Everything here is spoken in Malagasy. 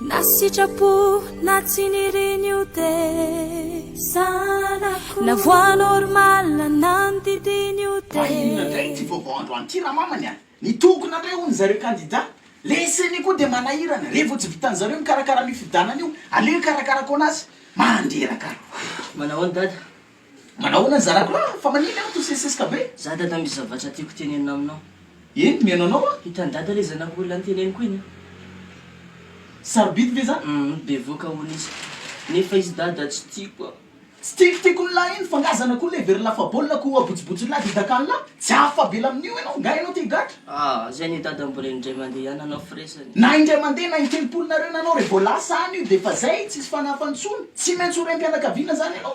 Na sitrapo na tsy nirin'io tesanako Na voix normale na ny didin'io tesanako Fa inona indray ity vaovao androany ity ramamany a! Nitokona indray hono zareo kandida? Le ceni koa dia manahirana, re vao tsy vitan'ny zareo mikarakara an'io fifidianana io, aleo hikarakara koana azy mandreraka. Manao ahoana dada? Manahoana ny zanako lahy? Fa manina aho toseseseka be. Za dada misy zavatra tiako tenenina aminao. Eny mihaino anao aho. Hitan'i dada le zanako olona niteneniko iny a. Sarobidy ve zany? Hum bevoka hono izy. Nefa izy dada tsy tiako a. Tsy tiako tiako ny lahy iny fa nga zanako olona heveriny lafabaolina ko abotsibotsin'ny lahy de dakan'ny lahy? Tsy hafavela amin'io enao, nga enao te higadra? Ah zay anie dada mbola indray mandeha ihany anao firesany. Na indray mandeha na intelopolo nareo na anao re vao lasa any io de efa zay tsisy fanahafa ntsony, tsy maintsy ho raim-pianakaviana zany enao.